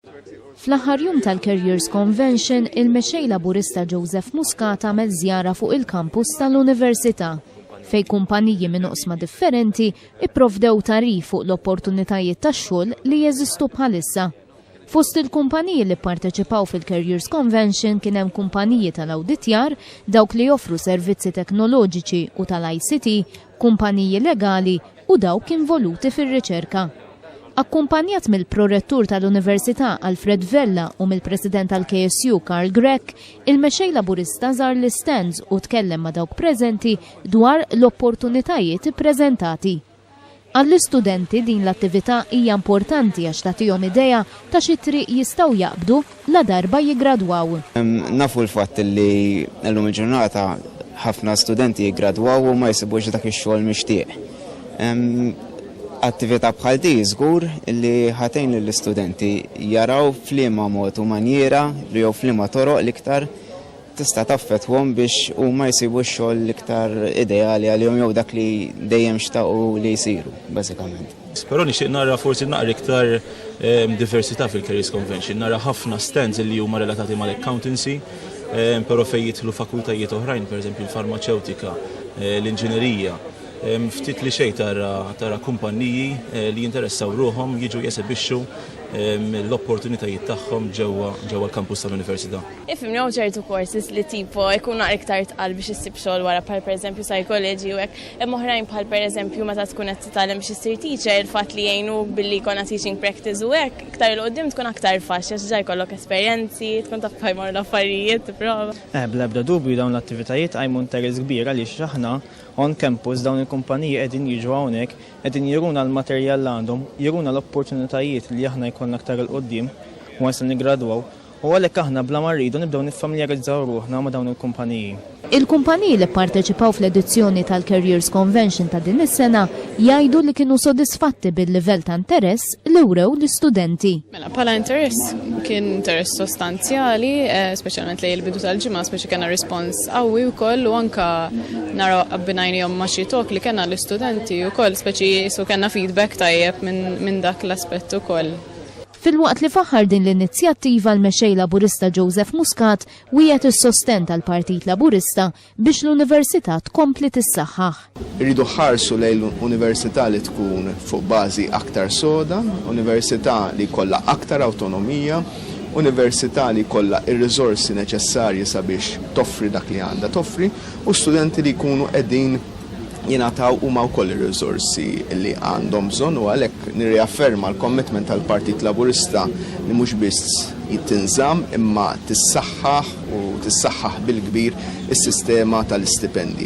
Fl-aħħar jum tal-Careers Convention, il-Mexxej Laburista Joseph Muscat għamel żjara fuq il-kampus tal-Università fej kumpaniji minn oqsma differenti ipprovdew tarif fuq l-opportunitajiet tax-xogħol li jeżistu bħalissa. Fost il-kumpaniji li pparteċipaw fil-Careers Convention kien hemm kumpaniji tal-awditjar, dawk li joffru servizzi teknoloġiċi u tal-ICT, kumpaniji legali u dawk involuti fir-riċerka. Akkumpanjat mill-Prorettur tal-Università Alfred Vella u mill-President tal-KSU Karl Grech, il-Mexxej Laburista żar l-istands u tkellem ma' dawk preżenti dwar l-opportunitajiet ippreżentati. Għall-istudenti din l-attività hija importanti għax tagħtihom idea ta' xi triq jistgħu jaqbdu ladarba jiggradwaw. Nafu l-fatt li llum il-ġurnata ħafna studenti jiggradwaw u ma jsibux dak ix-xogħol mixtieq. Attività bħal di żgur li ħa tgħin lill-istudenti jaraw f'liema mod u manjiera jew f'liema toroq l-iktar tista' taffettwahom biex huma jsibu x-xogħol l-iktar ideali għalihom jew dak li dejjem xtaqu li jsiru bażikament. Però nixtieq nara forsi naqra iktar ehm, diversità fil-Careers Convention, nara ħafna stands li huma relatati mal-accountancy, ehm, però fejn jidħlu fakultajiet oħrajn, pereżempju l-farmaceutika, eh, l-inġinerija, ehm, ftit li xejn tara tara kumpanniji eh, li jinteressaw ruħhom jiġu jesebixxu l-opportunitajiet tagħhom ġewwa ġewwa l-kampus tal-università. Ifhim jew ċertu courses li tipo jkun naqra iktar tqal biex issib xogħol wara bħal pereżempju psychology u hekk Hemm oħrajn bħal pereżempju meta tkun qed titgħallem biex issir teacher, il-fatt li jgħinuk billi jkollna teaching practice u hekk, iktar 'il quddiem tkun aktar faċli għax diġà jkollok esperjenzi, tkun taf kif jmorru l-affarijiet, tipprova. Eh, bla ebda dubju dawn l-attivitajiet iqajmu interess kbir għaliex aħna on campus dawn il-kumpaniji qegħdin jiġu hawnhekk, qegħdin juruna l-materjal li għandhom, juruna l-opportunitajiet li aħna jkollna aktar 'il quddiem once li niggradwaw U għalhekk aħna bla ma rridu nibdew niffamiljarizzaw ruħna ma' dawn il-kumpaniji. Il-kumpaniji li pparteċipaw fl-edizzjoni tal-Careers Convention ta' din is-sena jgħidu li kienu sodisfatti bil-livell ta' interess li wrew l-istudenti. Mela, bħala interess, kien interess sostanzjali, speċjalment lejn il-bidu tal-ġimgħa, speċi kena rispons qawwi wkoll u anka naraw abbinajnihom ma' xi tok li kena l-istudenti wkoll, speċi jisu kena feedback tajjeb minn dak l-aspett ukoll. Filwaqt li faħħar din l-inizjattiva l-Mexxej Laburista Joseph Muscat wiegħed is-sostenn tal-Partit Laburista biex l-Università tkompli tissaħħaħ. Irridu ħarsu lejn Università li tkun fuq bażi aktar soda, Università li jkollha aktar awtonomija, Università li jkollha r-riżorsi neċessarji sabiex toffri dak li għandha toffri u studenti li jkunu qegħdin jingħataw huma wkoll ir-riżorsi li għandhom bżonn u għalhekk nirriafferma l-commitment tal-Partit Laburista li mhux biss tinżamm imma tissaħħaħ u tissaħħaħ bil-kbir is-sistema tal-istipendji.